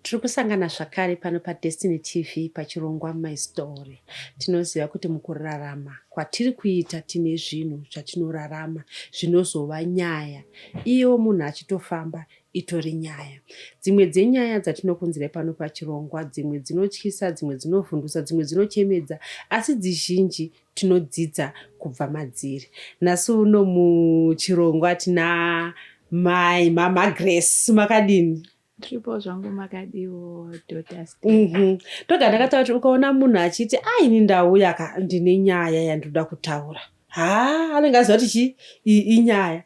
tiri kusangana zvakare pano padestiny tv pachirongwa my story tinoziva kuti mukurarama kwatiri kuita tine zvinhu zvatinorarama zvinozova nyaya iyewo munhu achitofamba itori nyaya dzimwe dzenyaya dzatinokunzira pano pachirongwa dzimwe dzinotyisa dzimwe dzinovhundusa dzimwe dzinochemedza asi dzizhinji tinodzidza kubva madziri nhasi uno muchirongwa tina mai mama grace makadini ndiripo zvangu makadiwo mhm. toga ndakataura kuti ukaona munhu achiti aini ndauya ka ndine nyaya yandinoda kutaura haa anenge aziva kuti chii inyaya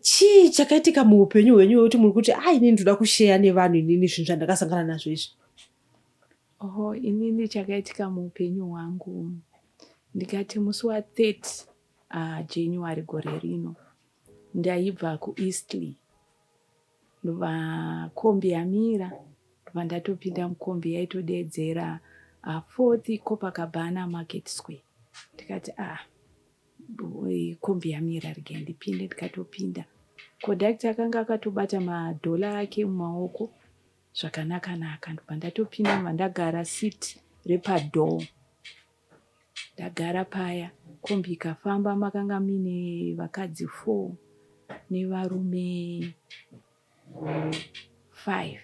chii chakaitika muupenyu hwenyu wekuti muri kuti a inini ndoda kusheya nevanhu inini zvinhu zvandakasangana nazvo izvi oho inini chakaitika muupenyu hwangu ndikati musi wa 30 uh, january gore rino ndaibva kueastley Ndobva kombi yamira ndobva ndatopinda mukombi yaitodeedzera uh, fourth Copacabana Market Square ndikati ah kombi yamira rege ndipinde ndikatopinda conductor akanga akatobata madhola ake mumaoko zvakanaka naka ndobva ndatopinda ndobva ndagara seat repadoor Ndagara paya kombi ikafamba makanga muine vakadzi four nevarume five.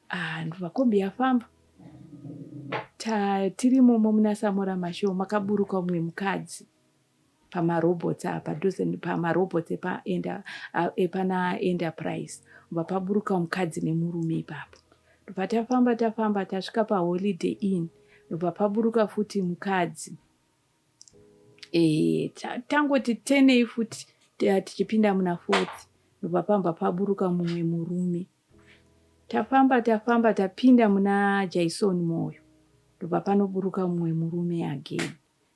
Ah, ndobva kombi yafamba tiri momo muna Samora Mashow makaburuka umwe mukadzi pamarobots ah, padhuze pamarobots ah, epana enterprise bva paburuka mukadzi nemurume ipapo ndobva tafamba tafamba tasvika paholiday in ndobva paburuka futi mukadzi e, tangoti tenei futi ah, tichipinda muna fourth ndobva pamba paburuka mumwe murume tafamba tafamba tapinda muna jaison moyo ndobva panoburuka mumwe murume again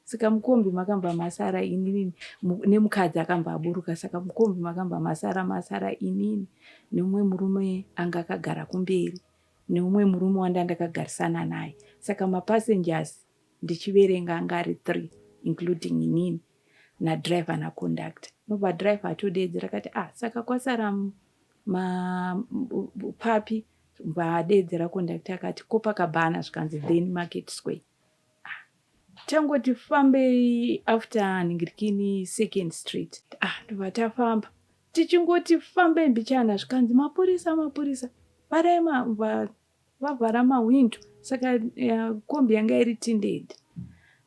saka mukombi makamba masara inini nemukadzi akamba aburuka saka mukombi makamba masara masara inini neumwe murume anga akagara kumberi neumwe murume wanda ndakagarisana naye saka mapassengers ndichiverenga anga ari three including inini nadriver naconduct nobva driver atodeedzera kati ah saka kwasara papi bva adeedzera conduct akati kopakabhana zvikanzi then market square tangoti fambei after nhingirikini second street ah tobva tafamba tichingoti fambei mbichana zvikanzi mapurisa mapurisa vharai vavhara mahwindo saka eh, kombi yanga iri tindedi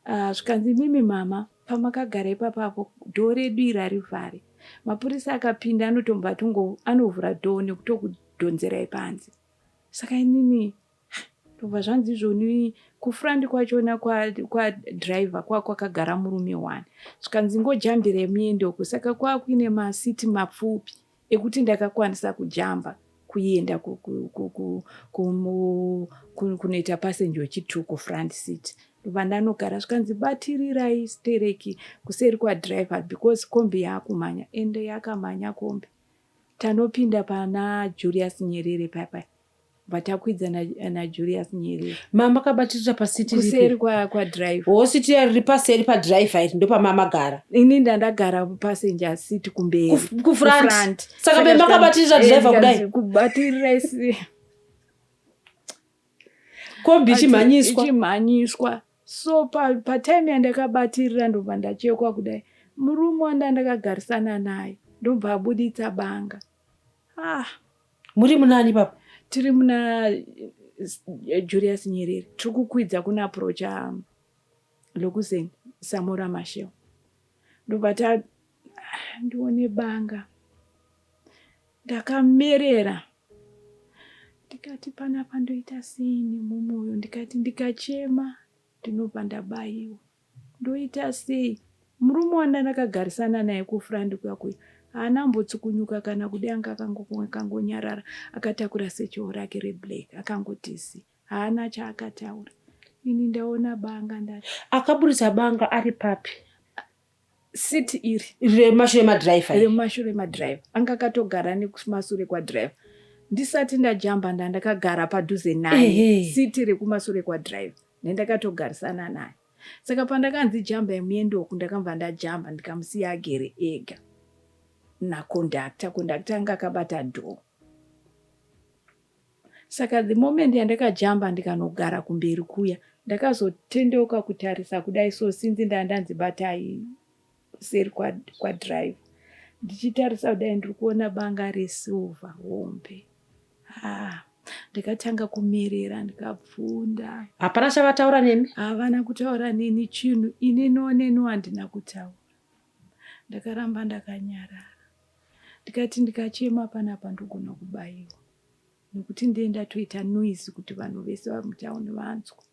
ah, zvikanzi uh, mimi mama pamakagara ipapapo dhoo redu iri arivhare mapurisa akapinda anotombva atovhura dhoo nekutokudhonzerai panze saka inini Ndobva zvanzi izvoni kufront kwachona kwadriver kwa kwakagara kwa murume one zvikanzi ngojambire muende uko saka kwakuine masiti mapfupi ekuti ndakakwanisa kujamba kuenda kunoita passenger wechitu kufront seat ndobva ndanogara zvikanzi batirirai stereki kuseri kwadriver because kombi yaakumhanya ende yakamhanya kombi tanopinda pana julius nyerere payapaya but akuidza najulius nyerere mama kabatirira pasitikuseri kwadrive kwa hositi riri paseri padrive iri ndopamamagara ini ndandagara passenger seat kumberi kufront saka be makabatirira eh, drive kudai kubatirira isi kombi ichimhanyiswa ichimhanyiswa so patime pa yandakabatirira ndobva ndachekwa kudai murume wanda ndakagarisana naye ndobva abuditsa banga Ah, muri munani papa? Tiri muna eh, Julius Nyerere. Tiri kukwidza kuna aprocha um, Lokuzeni Samora Masheo. Ndobva ta ah, ndione banga. Ndakamerera. Ndikati panapa ndoita sei nemumoyo ndikati ndikachema ndinobva ndabaiwa. Ndoita sei? Murume wandakagarisana naye kufront kuya kuya haana kumbotsukunyuka kana kudii anga akangonyarara akatakura sechoo rake reblack akangotisi haana chaakataura ini ndaona banga nda akaburitsa banga ari papi siti iri remashure madriver remashure madriver anga akatogara nekumasure kwadriver ndisati ndajamba ndandakagara padhuze naye siti rekumasure kwadriver nendakatogarisana naye saka pandakanzi jambai muende uku ndakabva ndajamba ndikamusiya agere ega nakondakta kondakta anga akabata dhoo saka the moment yandakajamba ndikanogara kumberi kuya ndakazotendeuka kutarisa kudai so sinzi ndandanzi batai kuseri kwadriver ndichitarisa kudai ndiri kuona banga resilver hombe ah, ndikatanga kumerera ndikabvunda hapana chavataura nemi havana kutaura neni chinhu ini noneni wandina kutaura ndakaramba ndakanyarara ndikati ndikachema panapa ndogona kubayiwa nekuti ndiye ndatoita noise kuti vanhu vese vamutown vanzwa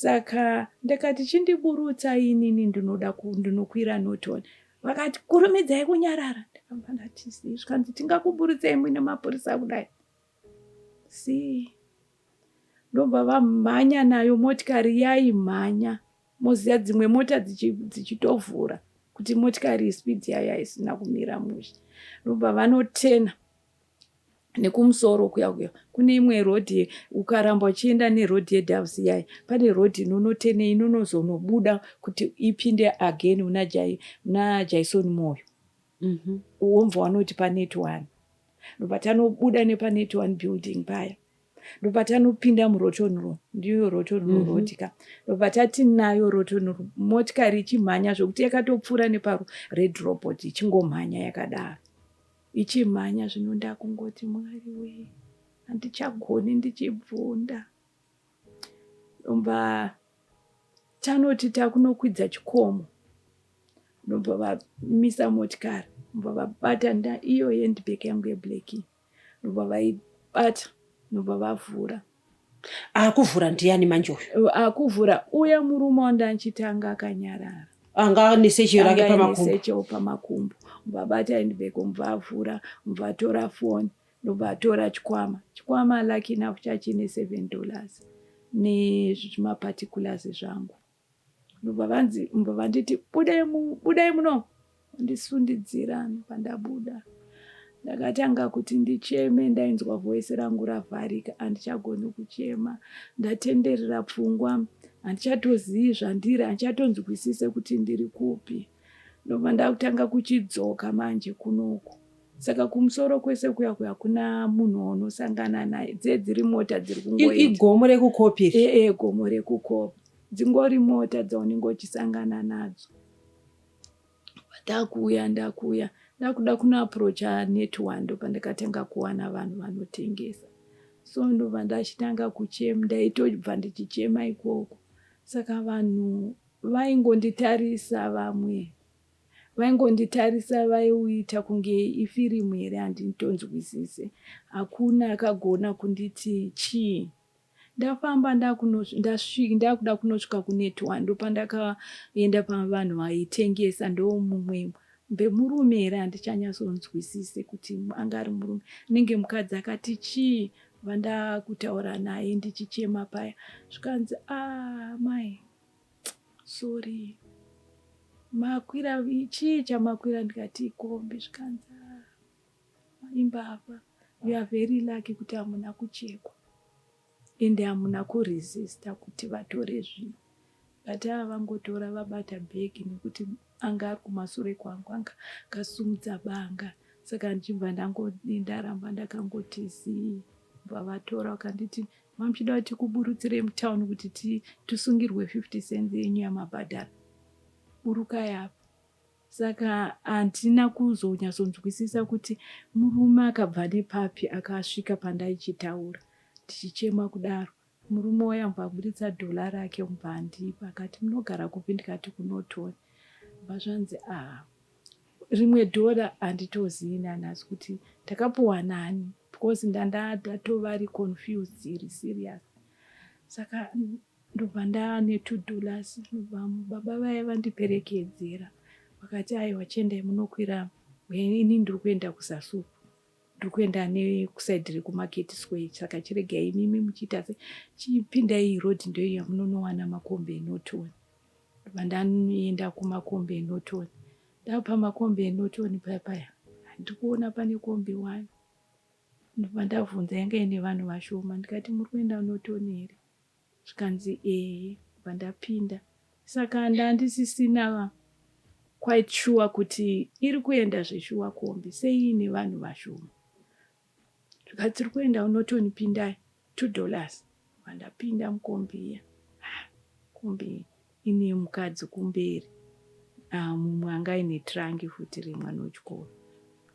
Saka ndakati chindiburutsa inini ndinoda ndinokwira Norton. Vakati kurumidzai kunyarara. Ndakamba ndati zii zvikanzi tingakuburutsei muine mapurisa kudai. Zii. Ndobva vamhanya nayo motikari yaimhanya. Moziya dzimwe mota dzichitovhura dzichi kuti motikari speed yaya isina kumira mushe. Ndobva vanotena. nekumusoro kuya kuya kune imwe road ukaramba uchienda neroad yedoves yai pane road inonotene inonozonobuda kuti ipinde again una jai una jaison moyo mm -hmm. womva wanoti panet one ndopatanobuda nepanet one building paya ndopatanopinda muroton ro ndiyo roton ro mm -hmm. road ka ndopatati nayo roton ro motikari ichimhanya zvekuti yakatopfuura neparo red robot ichingomhanya yakadaro ichimhanya zvino ndakungoti mwari wee handichagoni ndichibvunda ndomba tanoti takunokwidza chikomo ndobva vamisa motikari ndobva vabata nda iyo yendibek yangu yeblack ndobva vaibata ndobva vavhura Akuvhura ndiyani manje uyu? Akuvhura uya murume wandanchitanga akanyarara. Anga ane seche rake pamakumbo. Seche pamakumbo. Mubabati aindibeko mubavhura, mubatora phone, mubatora chikwama. Chikwama lucky enough chachine 7 dollars. Ni zvima particulars zvangu. ndobva vanzi mbva vanditi budai budai muno ndisundidzira pandabuda ndakatanga kuti ndicheme ndainzwa voice rangu ravharika handichagoni kuchema ndatenderera pfungwa handichatozivi zvandiri handichatonzwisise kuti ndiri kupi ndobva ndakutanga kuchidzoka manje kunoku Saka kumusoro kwese kuya kuya kuna munhu waunosangana naye dze dziri mota dziri kungoita igomo rekukopi iri e, e, gomo rekukopi dzingori mota dzaunenge uchisangana nadzo ndakuuya ndakuuya ndakuda kunoaprocha net one ndopandakatanga kuwana vanhu vanotengesa so ndobva ndachitanga kuchema ndaitobva ndichichema ikoko saka vanhu vaingonditarisa vamwe Vaingonditarisa vaiuita kunge ifirimu here handitonzwisise. Hakuna akagona kunditi chii. Ndafamba ndakuda kunosvika kunetwa ndopandakaenda pavanhu vaitengesa ndomumwe bemurume here handichanyatsonzwisise kuti anga ari murume anenge mukadzi akati chii vandakutaura naye ndichichema paya zvikanzi a ah, mai sorry makwira chii chamakwira ndikati ikombi zvikanzi ah, imbavha you are very lucky kuti hamuna kuchekwa ende hamuna kuresista kuti vatore zvinhu but ava vangotora vabata bhegi nekuti anga ari kumasure kwangu anga kasumudza banga saka ndichibva ndaramba ndakangoti zii bva vatora vakanditi Mamuchida kuti kuburutsirei mutown kuti tisungirwe 50 cents yenyu yamabhadhara. Burukai apa. Saka handina kuzonyatsonzwisisa kuti murume akabva nepapi akasvika pandaichitaura tichichema kudaro. Murume waye ambva aburitsa dhola rake umbva andipa akati munogara kupi ndikati kunotoni. Bva zvanzi ah rimwe dhora handitozivi nanhasi kuti ndakapuwa nani because ndandatatovari confused iri serious saka ndobva ndane two dollars ndobva baba vaye vandiperekedzera vakati aiwa chiendai munokwira ini ndiri kuenda kusasupu ndiri kuenda nekusaidi rekumarket square saka chiregai imimi muchiita se chipindai road ndoiya munonowana makombe enotiona Ndanoenda kumakombi enotoni ndapa makombi enotoni paya paya ndikuona pane kombi wani ndobva ndabvunza yanga ine vanhu vashoma ndikati muri kuenda notoni here zvikanzi ehe bva ndapinda saka ndandisisina quite sure kuti iri kuenda zveshuwa kombi seiine vanhu vashoma Zvika tiri kuenda unotoni pindai two dollars vandapinda mukombi iya ah, kombi ine mukadzi kumberi ah, mumwe anga aine trangi futi remwana wechikoro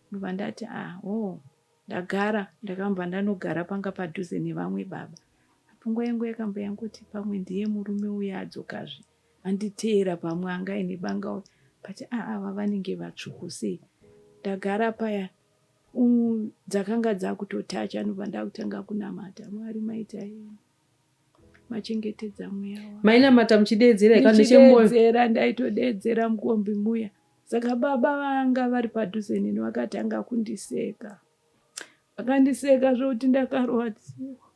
ndobva ndati ah, oh ndagara ndakamba ndanogara panga padhuze nevamwe baba pfungwa yangu yakamba yangoti pamwe ndiye murume uya adzokazve anditeera pamwe anga aine banga uya but aava ah, vanenge vatsvuku sei ndagara paya dzakanga dzakutotacha anobva ndakutanga kunamata mwari maita yeni machengetedza mweya wa mainamata muchideedzera ikanechemboyodeedzera ndaitodeedzera mukombi muya saka baba vanga vari padhuze nini vakatanga kundiseka vakandiseka zvokuti ndakarwadziwa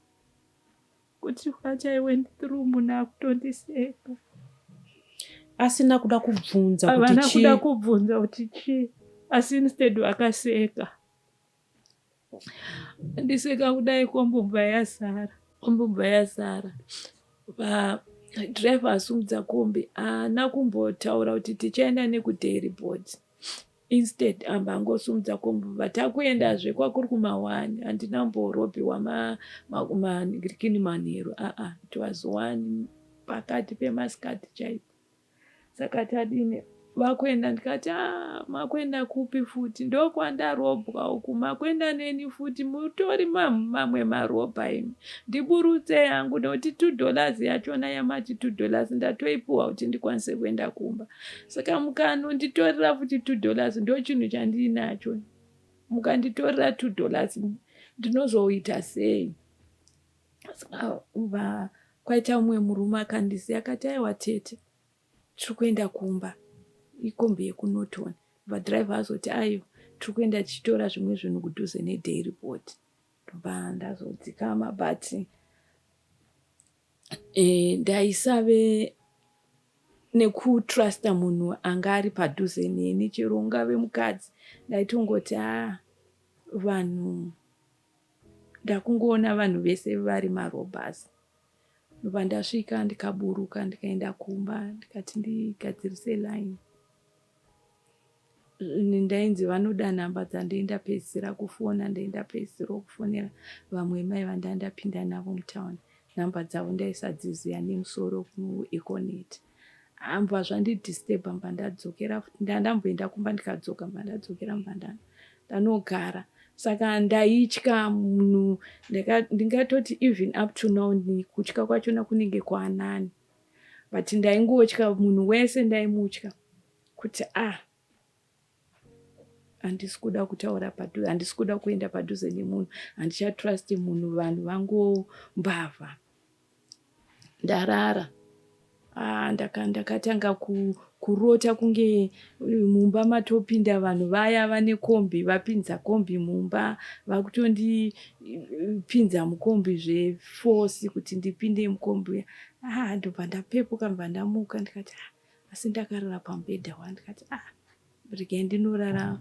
Kuti what I went through munhu akutondiseka. Asina kuda kubvunza kuti chii. Havana kuda kubvunza kuti chii. Asi instead vakaseka. Ndiseka kudai kombobva yazara. Kombobva yazara. Driver asumudza kombi haana kumbotaura kuti tichaenda nekudairy board. Instead amba angosimudza komb but akuendazve kwakuri kumawani handina mborobhiwa mamakini manheru aa it was one pakati pemasikati chaipo saka tadini vakuenda ndikati ah, makuenda kupi futi ndokwandarobwa uku makuenda neni futi mutori mamwe marobha imi ndiburutsei hangu nekuti two dollars yachona yamati two dollars ndatoipuwa kuti ndikwanise kuenda kumba saka mukanonditorera futi two dollars ndo chinhu chandiinacho mukanditorera two dollars ndinozoita sei saka va kwaita umwe murume akandisiya akati aiwa tete tiri kuenda kumba ikombi yekunotoni vadriver azoti ayo tiri kuenda tichitora zvimwe zvinhu kudhuze neday report ndobva ndazodzikama but Eh, ndaisave nekutrusta munhu anga ari padhuze neni chero ungave mukadzi ndaitongoti a ah, vanhu ndakungoona vanhu vese vari marobhas ndobva ndasvika ndikaburuka ndikaenda kumba ndikati ndigadzirise line Ini ndainzi vanoda nhamba dzandaindapedzisira kufona ndaindapedzisira kufonera vamwe mai vandandapinda navo mutown nhamba dzavo ndaisadziziva nemusoro kueconet ambva zvandidisturba mba ndadzokera futi ndandamboenda kumba ndikadzoka mba ndadzokera mba ndana ndanogara saka ndaitya munhu ndingatoti even up to now kutya kwachona kunenge kwanani but ndaingotya munhu wese ndaimutya kuti a ah, handisi kuda kutaura padhuze handisi kuda kuenda padhuze nemunhu handichatrusti munhu vanhu vangu mbavha ndarara ah, ndakatanga kurota kunge mumba matopinda vanhu vaya vane kombi vapinza kombi mumba vakutondipinza mukombi zvefosi kuti ndipinde mukombi uya ah, ndobva ndapepuka ndobva ndamuka ndikati ah, asi ndakarara pamubhedha wa ndikati ah regai ndinorara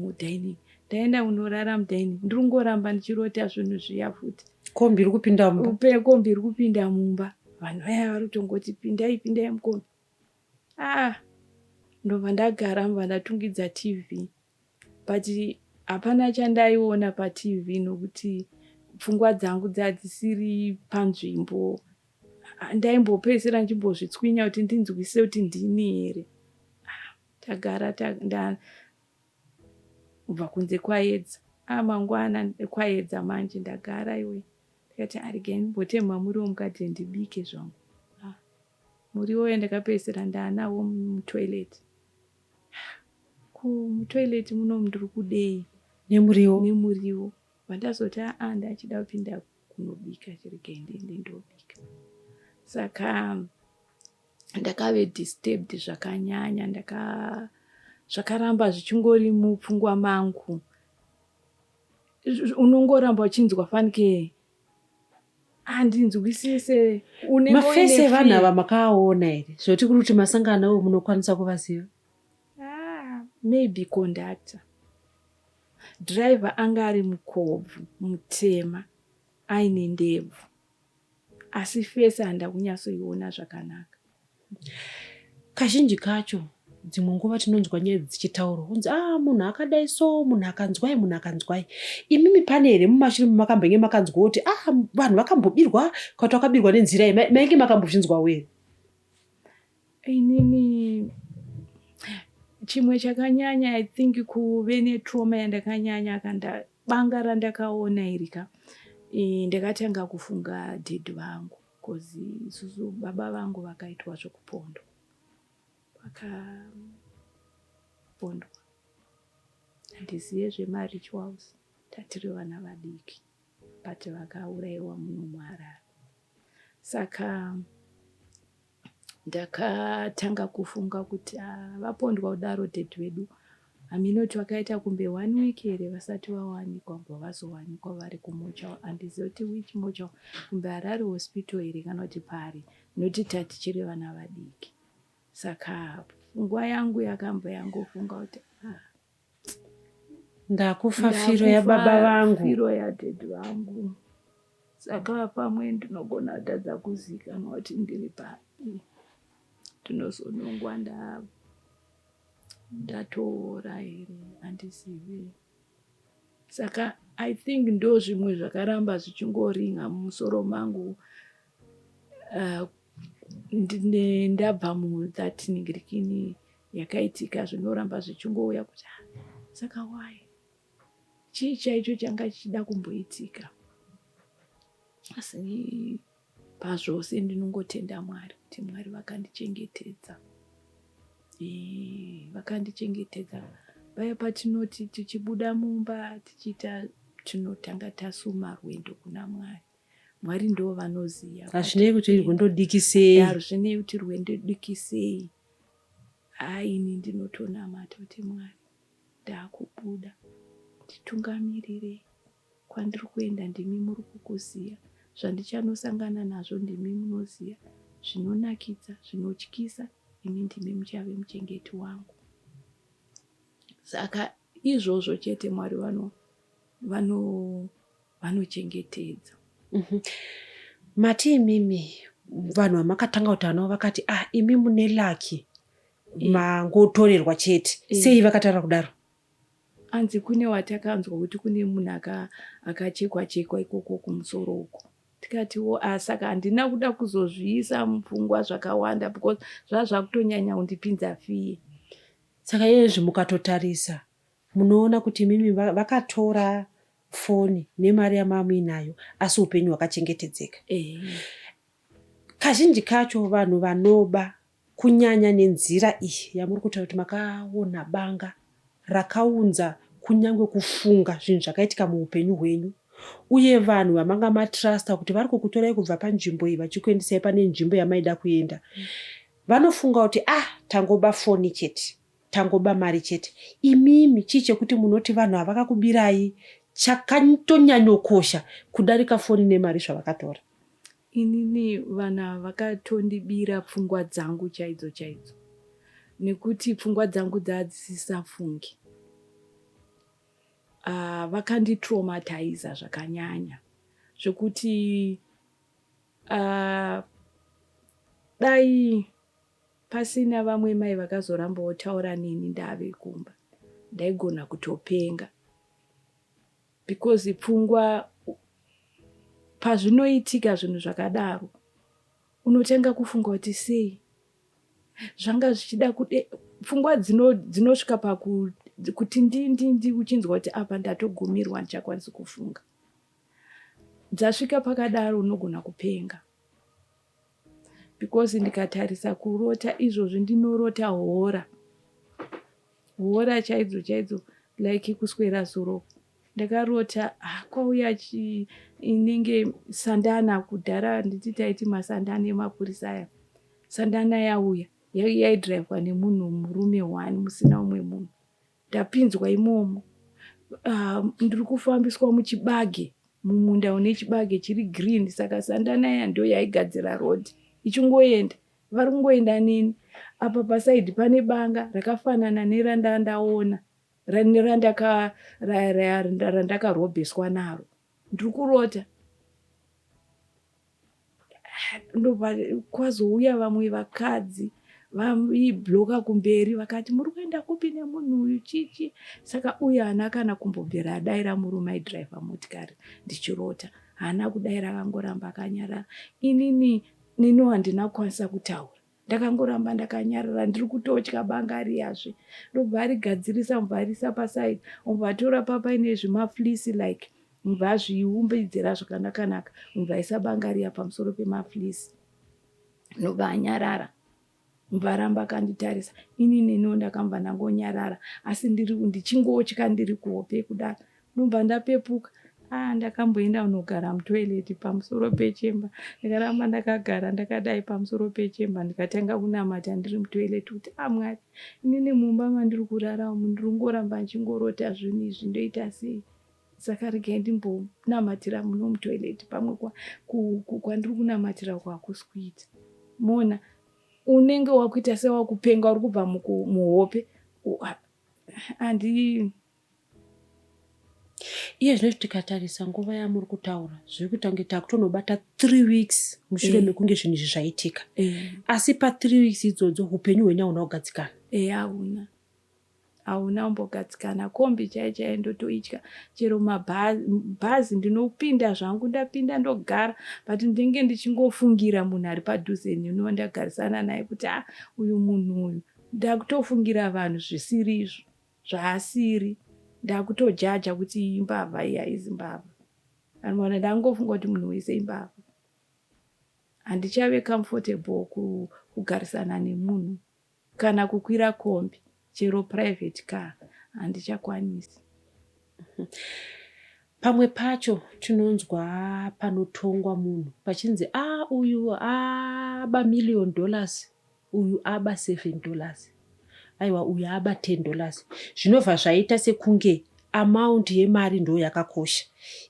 mudining ndaenda kunorara mudining ndiri kungoramba ndichirota zvinhu zviya futi kombi iri kupinda mumba kombi iri kupinda mumba vanhu vaya vari kutongoti pindai pindai mukombi ah ndobva ndagara mva ndatungidza tv but hapana chandaiona patv nokuti pfungwa dzangu dzadzisiri panzvimbo ndaimbopedzisira ndichimbozvitswinya kuti ndinzwise kuti ndini here ah, tagara ndakubva kunze kwayedza a ah, mangwana kwayedza manje ndagara iwe ndikati arege mbotemha muriwo mukadzi ndibike zvangu ah, muriwo ye ndakapedzisira ndaanawo mutoilet Ko mutoilet muno mndiri kudei? Nemuriwo. Nemuriwo. Vandazoti aa ndachida kupinda kunobika chiregai ndiende ndobika. Saka ndakave disturbed zvakanyanya ndaka zvakaramba zvichingori mupfungwa mangu unongoramba uchinzwa fanike handinzwisise mafesi evanhu ava makaaona here zvoti kuri kuti masangano awo munokwanisa kuvaziva ah, maybe conductor driver anga ari mukobvu mutema aine ndebvu asi fesi handakunyatsoiona zvakanaka Kazhinji kacho dzimwe nguva tinonzwa nyaya dzichitaurwa kunzi ah munhu akadai so munhu akanzwai munhu akanzwai imimi pane here mumashure mumakambenge makanzwa kuti ah vanhu vakambobirwa kati wakabirwa nenzira ye mainge makambozvinzwawo here inini chimwe chakanyanya i think kuve netrauma yandakanyanya kanda banga randakaona iri ka ndakatanga kufunga dhedhi vangu Coz isusu baba vangu vakaitwa zvekupondwa vakapondwa handizive zvemarituals tatiri vana vadiki but vakauraiwa muno muharare saka ndakatanga kufunga kuti ah, vapondwa kudaro ded vedu Haminoti vakaita kunge one week here vasati vawanikwa kubva vazowanikwa vari kumochal handizive kuti which mochal kunge Harare hospital here kana kuti pari noti tatichiri vana vadiki saka pfungwa yangu yakamba yangofunga kuti ah, ndakufa firo yababa vangu firo yadhedhi vangu saka pamwe ndinogona kutadza kuzikanwa kuti ndiri papi ndinozonongwa ndava ndatoora here handizivi saka i think ndo zvimwe zvakaramba zvichingoringa mumusoro mangu uh, ndabva muthat ningirikini yakaitika zvinoramba zvichingouya kuti ah, saka why chii chaicho changa chichida kumboitika asi Pazvose ndinongotenda Mwari kuti Mwari vakandichengetedza. Eee, vakandichengetedza. Paya patinoti tichibuda mumba tichiita tinotanga tasuma rwendo kuna Mwari. Mwari ndo vanoziva. Hazvinei kuti rwendo dikisei. Hazvinei kuti rwendo dikisei. Hai ini ndinotonamata kuti Mwari ndakubuda. Titungamirire. Kwandiri kuenda ndimi muri kukuziya, zvandichanosangana nazvo ndimi munoziya, zvinonakidza, zvinotyisa, imi ndimi muchave muchengeti wangu. Saka izvozvo chete Mwari vano vano vanochengetedza. Mhm. Mati imimi vanhu vamakatanga kutaura navo vakati ah imi mune laki eh. mangotorerwa chete eh. sei vakataura kudaro? Hanzi kune watakanzwa kuti kune munhu akachekwa chekwa ikoko kumusoro uko tikatiwo a ah, saka handina kuda kuzozviisa mupfungwa zvakawanda because zvaa zvakutonyanya kundipinza fiye saka iyezvi mukatotarisa munoona kuti imimi vakatora foni nemari yamamuinayo asi upenyu hwakachengetedzeka kazhinji kacho vanhu vanoba kunyanya nenzira iyi yamuri kutaura kuti makaona banga rakaunza kunyange kufunga zvinhu zvakaitika muupenyu hwenyu uye vanhu vamanga matrusta kuti vari kukutorai kubva panzvimbo iyi vachikuendesai pane nzvimbo yamaida kuenda vanofunga kuti ah tangoba foni chete tangoba mari chete imimi chii chekuti munoti vanhu havakakubirai chakatonyanyokosha kudarika foni nemari zvavakatora Inini vanhu ava vakatondibira pfungwa dzangu chaidzo chaidzo nekuti pfungwa dzangu dzadzisisafungi uh, ah, vakanditraumatiza zvakanyanya zvekuti uh, dai pasina vamwe mai vakazoramba votaura neni ndave kumba ndaigona kutopenga because pfungwa pazvinoitika zvinhu zvakadaro unotanga kufunga kuti sei zvanga zvichida kude pfungwa dzinosvika dzino pakuti ndindindi uchinzwa kuti apa ndatogumirwa ndichakwanisi kufunga dzasvika pakadaro unogona kupenga because ndikatarisa kurota izvozvi ndinorota hora hora chaidzo chaidzo like kuswera zuro ndakarota ah, kwauya inenge sandana kudhara nditi taiti masandana emapurisa aya sandana yauya yaidrivwa nemunhu murume one musina umwe munhu ndapinzwa imomo uh, ndiri kufambiswa muchibage mumunda une chibage chiri green saka sandana iya ndo yaigadzira road ichingoenda vari kungoenda neni apa pasaidi pane banga rakafanana nerandandaona randakarobheswa naro ndiri kurota ndobva kwazouya vamwe vakadzi vaibloka kumberi vakati muri kuenda kupi nemunhu uyu chichi saka uyu haana kana kumbobvera adaira murume aidrive motikari ndichirota haana kudaira akangoramba akanyarara inini nino handina kukwanisa kutaura ndakangoramba ndakanyarara ndiri kutotya banga ariyazve ndobva arigadzirisa mubva arisa paside mubva atora papa ine zvimaflisi like mubva azviumbidzira zvakanakanaka mubva aisa banga riya pamusoro pemaflisi ndobva anyarara mubva aramba akanditarisa inini no ndakambva ndangonyarara asi ndiri ndichingotya ndiri kuhope kudaro ndobva ndapepuka ah ndakamboenda unogara mutoilet pamusoro pechemba ndakaramba ndakagara ndakadai pamusoro pechemba ndikatanga kunamata ndiri mutoilet kuti ah mwari inini mumba mandiri kurara umu ndiri kungoramba ndichingorota zvinhu izvi ndoita sei saka regai ndimbonamatira muno mutoilet pamwe kwandiri kunamatira kwakusi kuita mona unenge wakuita sewakupenga uri kubva muhope andi iye zvino tikatarisa nguva yamuri kutaura zviri kuita kunge takutonobata three weeks mushure eh. mekunge zvinhu izvi zvaitika eh. asi pathree weeks idzodzo upenyu hwenyu hauna kugadzikana eh, hauna hauna umbogadzikana kombi chai chai ndotoitya chero mabhazi ndinopinda zvangu ndapinda ndogara but ndinge ndichingofungira munhu ari padhuze neniwa ndagarisana naye kuti a ah, uyu munhu uyu ndakutofungira vanhu zvisiri izvo zvaasiri ndakutojaja kuti imbavha iya izimbavha anoona ndangofunga kuti munhu wese imbavha handichave comfortable kugarisana nemunhu kana kukwira kombi chero private car handichakwanisi pamwe pacho tinonzwa panotongwa munhu pachinzi a ah, uyu aba ah, million dollars uyu aba 7 dollars aiwa uyu aba 10 dollars zvinobva zvaita sekunge amount yemari ndo yakakosha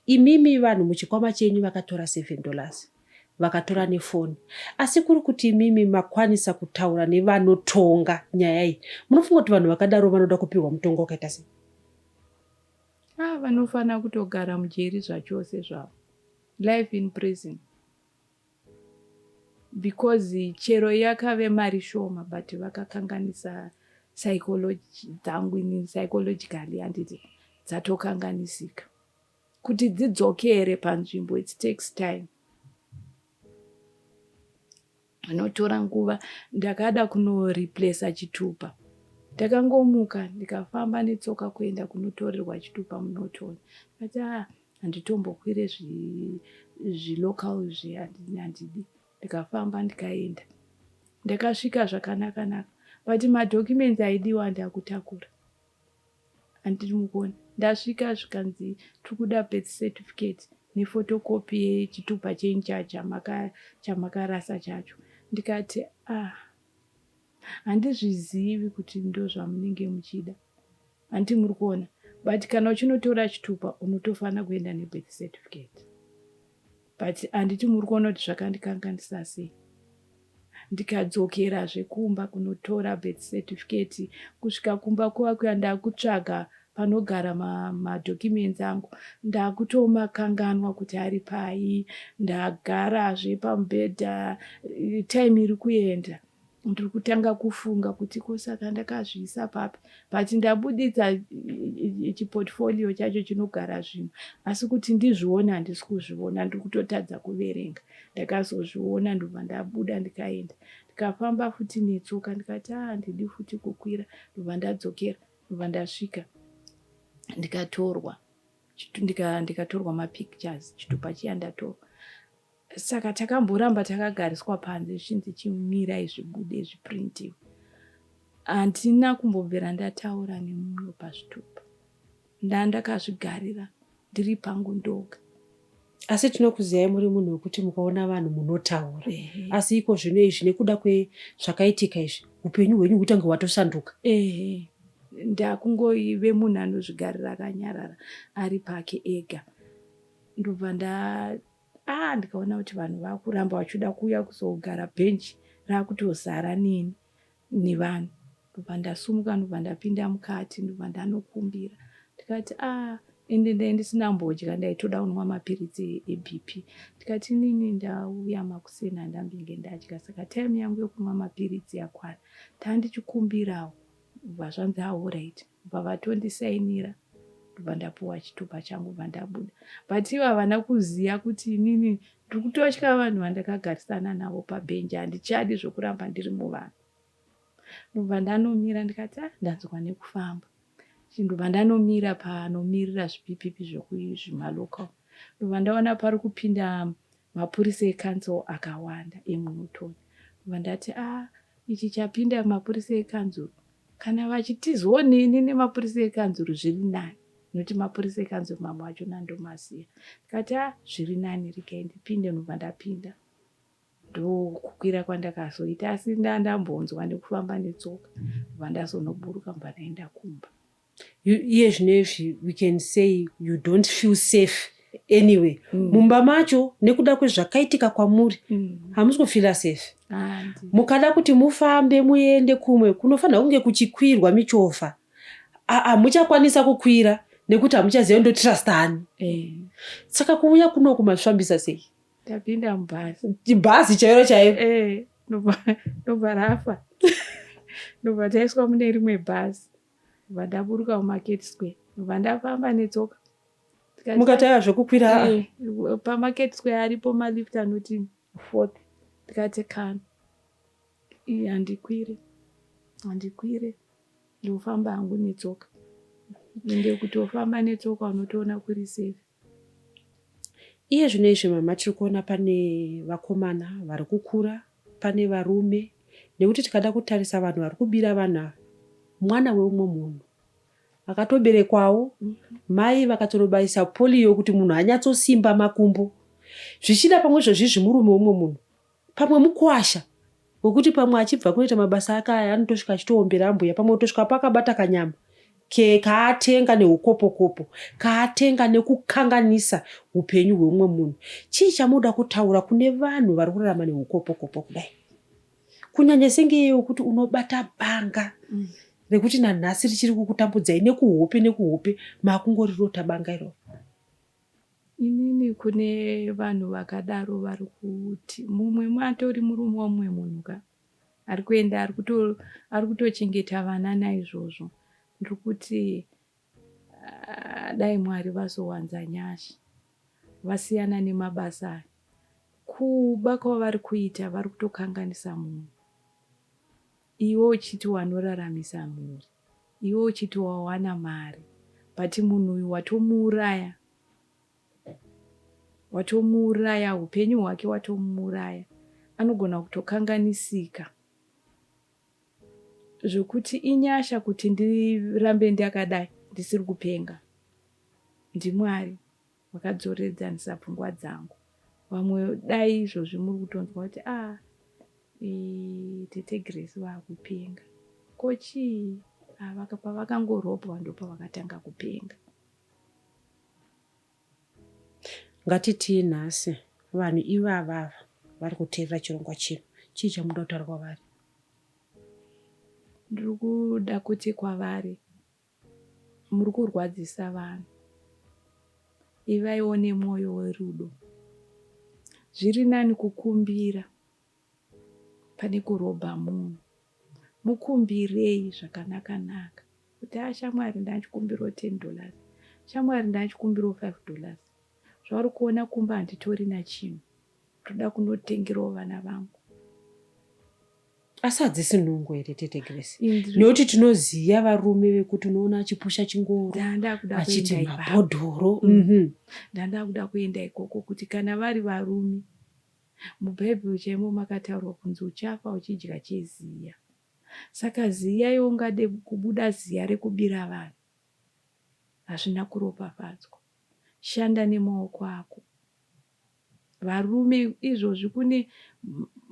imimi vanhu muchikwama chenyu vakatora 7 dollars vakatora nefoni asi kuri kuti imimi makwanisa kutaura nevanotonga nyaya iyi munofunga kuti vanhu vakadaro vanoda kupihwa mutongo wakaita sei ah, vanofanira kutogara mujeri zvachose zvavo life in prison Because chero yakave mari shoma but vakakanganisa psychology dzangu ini psychologically handiti dzatokanganisika kuti dzidzokere panzvimbo it takes time anotora nguva ndakada kunoreplace chitupa ndakangomuka ndikafamba netsoka kuenda kunotorerwa chitupa munotoni but ah, handitombokwire zvilocal zvi zvi handidi ndikafamba ndikaenda ndakasvika zvakanaka naka but madocuments aidiwa ndakutakura handiri mukona ndasvika zvikanzi tiri kuda birth certificate nefotokopi yechitupa chenyu chamakarasa chacho ndikati ah handizvizivi kuti ndozvamunenge muchida Hanti muri kuona but kana uchinotora chitupa unotofanira kuenda nebirth certificate but handiti muri kuona kuti zvakandikanganisa sei ndikadzokera zvekumba kunotora birth certificate kusvika kumba kuva kuya ndakutsvaga panogara madocuments ma angu ndakutomakanganwa kuti ari pai ndagarazve pamubhedha time iri kuenda ndiri kutanga kufunga kuti ko saka ndakazviisa papi but ndabuditsa chiportfolio chacho chinogara zvinhu asi kuti ndizviona handisi kuzviona ndiri kutotadza kuverenga ndakazozviona ndobva ndabuda ndikaenda ndikafamba futi netsoka ndikati a ah, handidi futi kukwira ndobva ndadzokera ndobva ndasvika ndikatorwa ndikatorwa mapictures chitupa chiya ndatorwa saka takamboramba takagariswa panze zvichinzi chimirai zvibude zviprintiwe handina kumbobvira ndataura nemumwe pazvitupa ndaa ndakazvigarira ndiri pangu ndoga asi tinokuziyai muri munhu wekuti mukaona vanhu munotaura asi iko zvino izvi nekuda kwezvakaitika izvi upenyu hwenyu hutange hwatosanduka ndakungoive munhu anozvigarira akanyarara ari pake ega ndobva nda ah ndikaona kuti vanhu vakuramba vachiuda kuuya kuzogara bench rakutozara nini nevanhu ndobva ndasumuka ndobva ndapinda mukati ndobva ndanokumbira ndikati ah ende ndai ndisina mbodya ndaitoda kunwa mapiritsi ebp ndikati nini ndauya makuseni andambinge ndadya saka time yangu yokunwa mapiritsi yakwana ndandichikumbirawo bva zvanzi aorit ah, kubva vatondisainira ndobva ndapuwa chitupa changu bva ndabuda but ivo havana kuziva kuti inini ndiri kutotya vanhu vandakagarisana navo pabhenji handichadi zvokuramba ndiri muvanhu ndobva ndanomira ndikati ah, ndanzwa nekufamba ndobva ndanomira panomirira zvipipipi zvokuzvimalocal ndobva ndaona pari kupinda mapurisa ekanzuru akawanda emunotoni bva ndati a ah, ichi chapinda mapurisa ekanzuru kana vachitiziwo nini nemapurisa ekanzuru zviri nani nokuti mapurisa ekanzuru mamwe acho nandomaziva ndikati a ah, zviri nani rikai ndipinde ndobva ndapinda ndokukwira kwandakazoita asi ndandambonzwa nekufamba netsoka bva ndazonoburuka bva ndaenda kumba iye zvinezvi we can say you don't feel safe anyway mm. mumba macho nekuda kwezvakaitika kwamuri mm. hamusi kufila safe ah, mukada kuti mufambe muende kumwe kunofanira kunge kuchikwirwa michovha hamuchakwanisa kukwira nekuti hamuchaziva ndotrust ani eh. saka kuuya kuno kumasvambisa sei tapinda mubhazi bhazi chairo chairo eh, ndobva rafa ndobva taiswa mune rimwe bhazi ndakabva ndaburuka mumarket square ndobva ndafamba netsoka mukatanga zvekukwira eh, pamarket square aripo malift anoti fourth ndikati kana handikwire handikwire ndofamba hangu netsoka ende kutofamba netsoka unotoona kuri safe Iye zvino izvi mama tiri kuona pane vakomana vari kukura, pane varume nekuti tikada kutarisa vanhu vari kubira vanhu ava mwana weumwe munhu akatoberekwawo mai vakatorobaisa poliyo kuti munhu anyatsosimba makumbo zvichida pamwe zvozvizvi murume weumwe munhu pamwe mukwasha wekuti pamwe achibva kunoita mabasa ake aya anotosvika achitoombera ambuya pamwe kutosvika apo akabata kanyama ke kaatenga neukopokopo kaatenga nekukanganisa upenyu hweumwe munhu chii chamunoda kutaura kune vanhu vari kurarama neukopokopo kudai kunyanya sengeye wekuti unobata banga mm. rekuti nanhasi richiri kukutambudzai nekuhope nekuhope makungorirota banga iroro Inini kune vanhu vakadaro vari kuti mumwe matori murume wamumwe munhu ka ari kuenda ari kutochengeta vana naizvozvo ndiri kuti ah, dai mwari vazowanza nyasha vasiyana nemabasa aya kuba kwavari kuita vari kutokanganisa munhu Iwe uchiti wanoraramisa mhuri, iwe uchiti wawana mari but munhu uyu watomuuraya, watomuuraya hupenyu hwake watomuuraya anogona kutokanganisika zvekuti inyasha kuti ndirambe ndakadai ndisiri kupenga ndiMwari. Wakadzoredzanisa pfungwa dzangu. Vamwe dai izvozvi muri kutonzwa kuti ah eh, tete Grace vakupenga. Ko chii? Ah, vaka- pavakangorobwa ndopavakatanga kupenga. Ngatitii nhasi vanhu ivava ava vari kuteerera chirongwa chino. Chii chamuda kutaura kwavari? Ndiri kuda kuti kwavari Muri kurwadzisa vanhu. Ivaiwo nemwoyo werudo. Zviri nani kukumbira pane kurobha munhu. Mukumbirei zvakanaka naka. Kuti a ah, shamwari ndachikumbiro 10 dollars. Shamwari ndachikumbiro 5 dollars. Zvauri kuona kumba handitori nachinhu. ndoda kunotengerawo vana vangu asi hadzisi nungo here tete grace nekuti tinoziva varume vekuti unoona achipusha chingoro achiti mabhodhoro mm. mhm. ndandakuda kuenda ikoko kuti kana vari varume mubhaibheri chaimo makataurwa kunzi uchafa uchidya cheziya saka ziya yo ungade kubuda ziya rekubira vanhu hazvina kuropafadzwa shanda nemaoko ako Varume izvozvi kune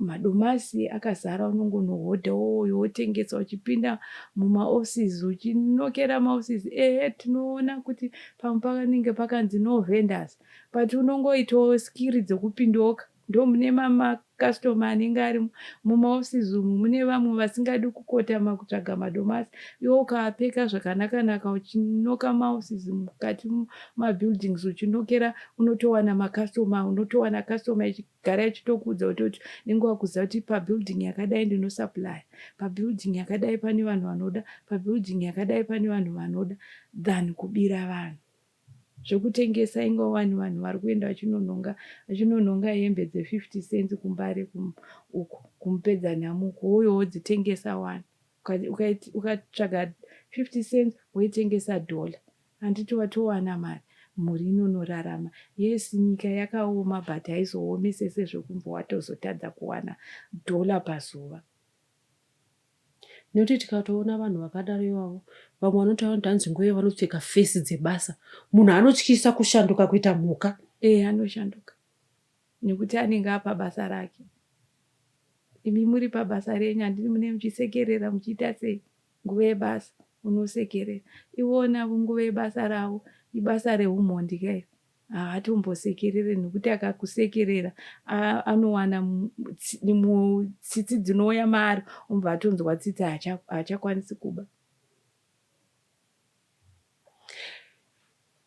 madomasi akazara unongonohodha woyo wotengesa uchipinda mumaoffices uchinokera maoffices ehe tinoona kuti pamwe pakanenge pakanzi no vendors but unongoitawo skiri dzokupindoka ndomune mamark Customer anenge ari muma offices umu mune vamwe vasingadi kukotama kutsvaga madomasi iwe ukavapfeka zvakanaka naka uchinoka muma offices mukati muma buildings uchinokera unotowana ma customer unotowana customer ichigara ichitokuudza kuti kuti nenge wakuziva kuti pa building yakadai ndino supplier pa building yakadai pane vanhu vanoda pa building yakadai pane vanhu vanoda than kubira vanhu zvekutengesa inga wani vanhu vari kuenda vachinonhonga vachinonhonga hembe dze 50 cents kumbare kum, uko kumupedza nhamo uko wouyo wodzitengesa wani ukatsvaga uka, uka 50 cents woitengesa dollar handiti watowana mari mhuri inonorarama yes nyika yakaoma but haizoomese sezvekumbo watozotadza kuwana dollar pazuva Nekuti tikatoona vanhu vakadaro ivavo vamwe vanotaura kuti hanzi ngoyo vanopfeka fesi dzebasa. Munhu anotyisa kushanduka kuita mhuka. Ee eh, anoshanduka nekuti anenge apa basa rake. Imi muri pabasa renyu handini mune muchisekerera muchiita sei nguva yebasa unosekerera. Iwona nguva yebasa ravo ibasa reumhondi kairi. haatombosekerere nokuti akakusekerera anowana tsitsi dzinouya maari umbva atonzwa tsitsi haachakwanisi kuba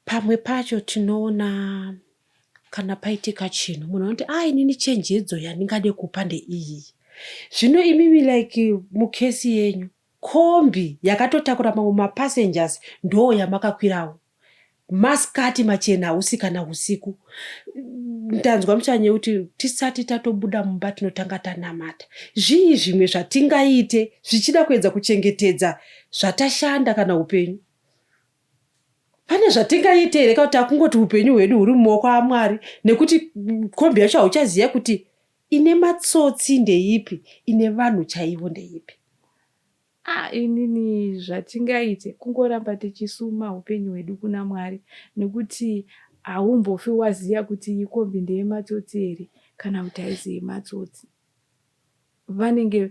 pamwe pacho tinoona kana paitika chinhu munhu anoti a ah, inini chenjedzo yandingade kupa ndeiyi zvino imimi like mukesi yenyu Kombi yakatotakura mamwe ma passengers ndoo yamakakwirawo. Ma skirt machena hausi kana husiku. Ndanzwa muchanye kuti tisati tatobuda mumba tinotanga tanamata. Zvii zvimwe zvatingaite zvichida kuedza kuchengetedza zvatashanda kana hupenyu? Pane zvatingaite here kana kuti takungoti hupenyu hwedu huri mumaoko aMwari nekuti kombi yacho hauchaziva kuti Ine matsotsi ndeipi ine vanhu chaivo ndeipi. Ah inini zvatingaite kungoramba tichisuma upenyu hwedu kuna Mwari nekuti haumbofi waziva kuti iyi kombi ndeyematsotsi here kana kuti haisi yematsotsi. Vanenge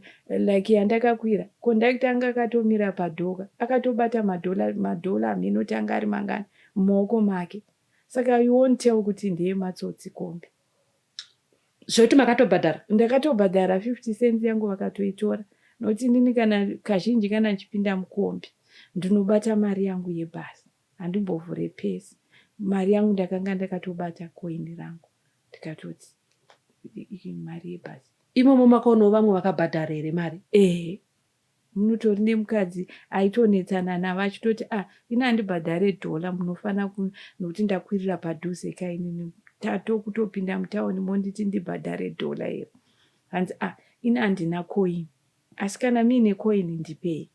like yandakakwira kondakita anga akatomira padhoka akatobata madhola madhola hameno kuti anga ari mangani mumaoko make saka you won't tell kuti ndeyematsotsi kombi. zvekuti makatobhadhara ndakatobhadhara 50 cents yangu vakatoitora nokuti inini kana kazhinji kana ndichipinda mukombi ndinobata mari yangu yebhasi handimbovhure pesi mari yangu ndakanga ndakatobata koini rangu ndikatoti mari yebhasi imomo makaonawo vamwe vakabhadhara here mari ehe Munotori nemukadzi aitonetsana navo achitoti ah ini handibhadhare dollar munofanira ku nokuti ndakwirira padhuze ka inini tato kutopinda mutaoni monditi ndibhadhare dollar here hanzi ah ini handina coin asi kana muine coin ndipei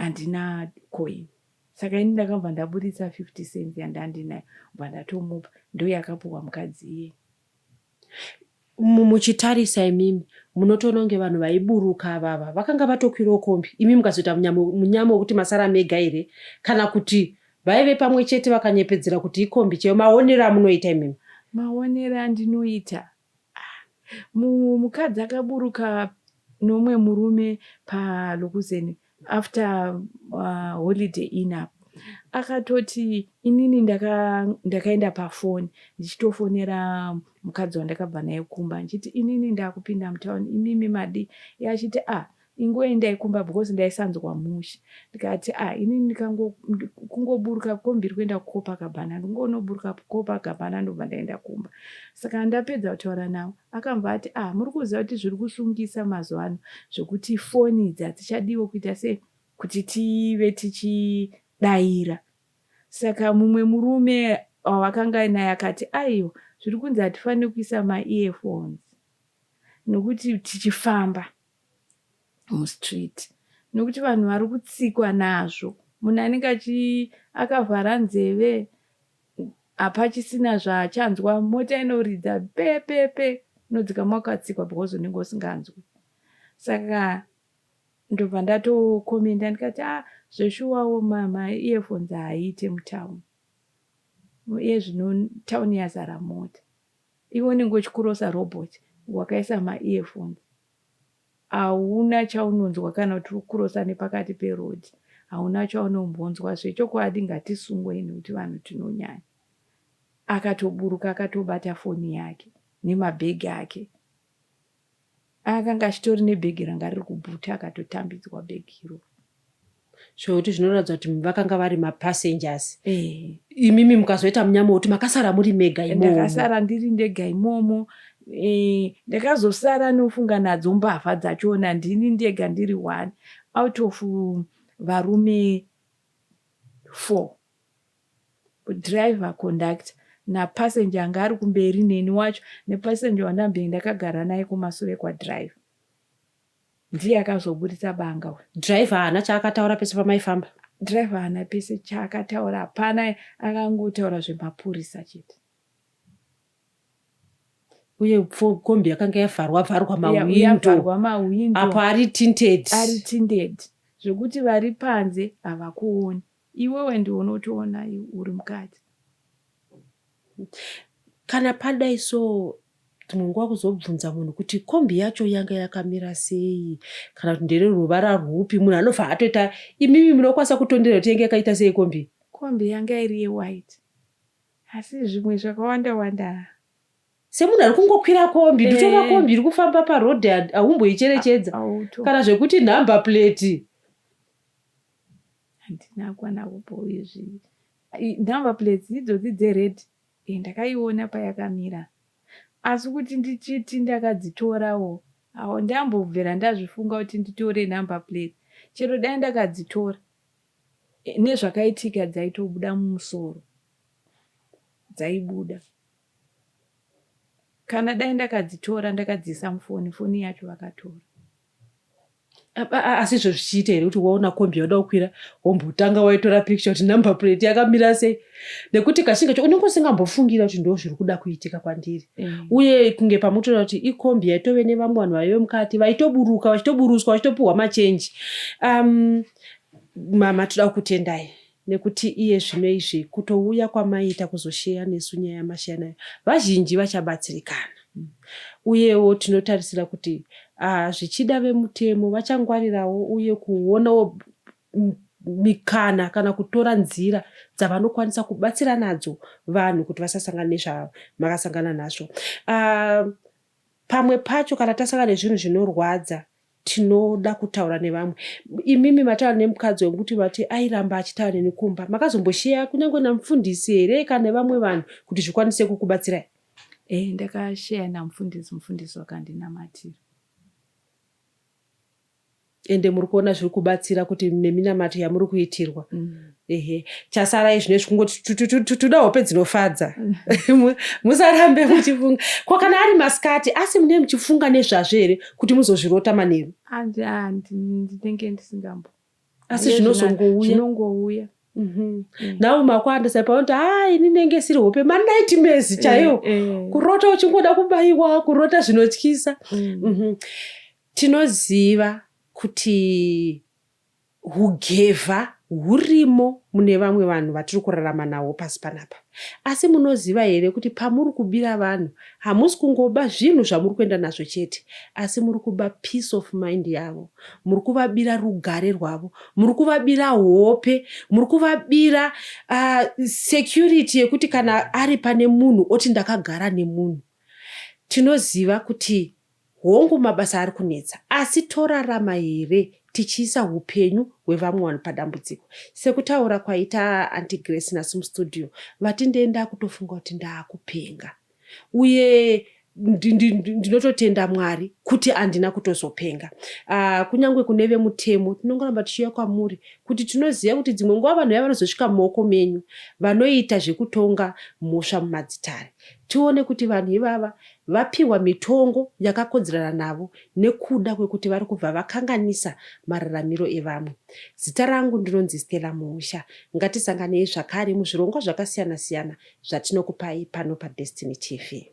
handina coin saka ini ndakabva ndaburitsa 50 cents yandandinayo bva ndatomupa ndoyakapuhwa mukadzi iyeye muchitarisa imimi munotoona kunge vanhu vaiburuka avava vakanga vatokwirawo kombi imi mukazoita munyama wekuti masara mega here kana kuti vaive pamwe chete vakanyepedzera kuti ikombi chaiyo maonero amunoita imimi maonero andinoita ah, mukadzi akaburuka nomwe murume palokuzeni after uh, holiday in up akatoti inini ndakaenda ndaka pafoni ndichitofonera mukadzi wandakabva naye kumba ndichiti inini ndakupinda mutown imimi madi ye achiti a ah, ingoe ndaikumba because ndaisanzwa mushe ndikati a ah, inini kungoburuka kombiri kuenda kukopa gabhana ndingonoburuka kukopa gabhana ndobva ndaenda kumba saka ndapedza kutaura navo Akabva ati ah muri kuziva kuti zviri kusungisa mazuva ano zvekuti foni idzi hadzichadiwo kuita se kuti tive tichidaira. Saka mumwe murume wavakanga naye akati aiwa zviri kunzi hatifanire kuisa maearphones nokuti tichifamba. mustreet nokuti vanhu vari kutsikwa nazvo munhu anenge achi akavhara nzeve hapachisina zvaachanzwa mota inoridza pepepe unodzika mwakatsikwa because unenge usinganzwi saka ndobva ndatokomenda ndikati a ah, zveshuwawo mama earphones haaite mutown iye zvino town yazara mota Iwe unenge uchikurosa robot wakaisa ma earphones hauna chaunonzwa kana kuti uri kurosa nepakati peroad hauna chaunombonzwa zvechokwadi ngatisungwei nekuti vanhu tinonyanya akatoburuka akatobata foni yake nemabhegi ake Akanga achitori nebhegi ranga riri kubhuti akatotambidzwa bhegi iro. Zvekuti zvinoratidza kuti vakanga vari mapassengers. Eh. Imimi mukazoita munyama wekuti makasara muri mega eh, imomo. Ndakasara ndiri ndega imomo. Eh, ndakazosara nofunga nadzo mbavha dzachona ndini ndega ndiri one out of varume four. Driver, conductor napassenger anga ari kumberi neni wacho nepassenger wandambenge ndakagara naye kumasure kwadriver ndiye akazoburitsa banga uyu driver haana chaakataura pese pamaifamba driver haana pese chaakataura hapana akangotaura zvemapurisa chete uye kombi yakanga yavharwa vharwa mawindoapo ari tinted ari tinted zvekuti vari panze havakuoni Iwewe ndiwe unotoona uri mukadzi. Kana padai so dzimwe nguva kuzobvunza munhu kuti kombi yacho yanga yakamira sei kana kuti ndere ruvara rwupi munhu anobva atoita imimi munokwanisa kutondera kuti yanga yakaita sei kombi kombi yanga iri yewhite asi zvimwe zvakawanda wanda semunhu ari kungokwira kombi nditora eh. kombi iri kufamba paroad haumboicherechedza kana zvekuti number plate handina kwana kupo izvi number plates idzodzi dzered e ndakaiona payakamira asi kuti ndichiti ndakadzitorawo awo ndambobvera ndazvifunga kuti nditore number plate chero dai ndakadzitora e, nezvakaitika dzaitobuda mumusoro dzaibuda kana dai ndakadzitora ndakadziisa mufoni foni yacho vakatora asi izvo zvichiita here kuti waona kombi yauda kukwira wombotanga waitora picture kuti number plate yakamira sei nekuti kachinge cho unenge usingambofungira kuti ndo zviri kuda kuitika kwandiri mm. uye kunge pamutoona kuti ikombi yaitove nevamwe vanhu vaive mukati vaitoburuka vachitoburutswa vachitopiwa machenji um, mama toda kukutendai nekuti iye zvino izvi kutouya kwamaiita kuzosheya nesu nyaya yamasheya nayo vazhinji vachabatsirikana mm. uyewo tinotarisira kuti uh, zvichida vemutemo vachangwarirawo uye kuonawo mikana kana kutora nzira dzavanokwanisa kubatsira nadzo vanhu kuti vasasangana nezvamakasangana nazvo uh, pamwe pacho kana tasangana nezvinhu zvinorwadza tinoda kutaura nevamwe imimi mataura nemukadzi wangu kuti vati airamba achitaura neni kumba makazombosheya kunyange namufundisi here kana nevamwe vanhu kuti zvikwanise kukubatsirai e eh, ndakasheya namufundisi mufundisi wakandinamatira ende muri kuona zviri kubatsira kuti neminamato yamuri kuitirwa mm. ehe chasara izvi nezvi kungoti tuda hope dzinofadza musarambe muchifunga ko kana ari masikati asi mune muchifunga nezvazvo here kuti muzozvirota manheru ndinenge ndisingambo asi zvinozongouya mhm. eh. nau makwanda sai paunoti haa ini nenge siri hope manaiti mezi eh, chaiwo eh. kurota uchingoda kubaiwa kurota zvinotyisa mm. mhm. tinoziva kuti Hugevha hurimo mune vamwe vanhu vatiri kurarama nahwo pasi panapa. Asi munoziva here kuti pamuri kubira vanhu hamusi kungoba zvinhu zvamuri kuenda nazvo chete asi muri kuba peace of mind yavo, muri kuvabira rugare rwavo, muri kuvabira hope, muri kuvabira uh, security yekuti kana ari pane munhu oti ndakagara nemunhu. Tinoziva kuti Hongu mabasa ari kunetsa asi torarama here tichiisa hupenyu hwevamwe vanhu padambudziko? Sekutaura kwaita Aunty Grace nasu mustudio vati ndee ndakutofunga kuti ndaakupenga uye ndinototenda Mwari kuti andina kutozopenga. Uh, kunyange kune vemutemo tinongoramba tichiuya kwamuri kuti tinoziva kuti dzimwe nguva vanhu vaya vanozosvika mumaoko menyu vanoita zvekutonga mhosva mumadzitare. Tione kuti vanhu ivava vapihwa mitongo yakakodzerana navo nekuda kwekuti vari kubva vakanganisa mararamiro evamwe. Zita rangu ndinonzi Stella Muusha. Ngatisanganei zvakare muzvirongwa zvakasiyana siyana zvatinokupai pano paDestiny TV.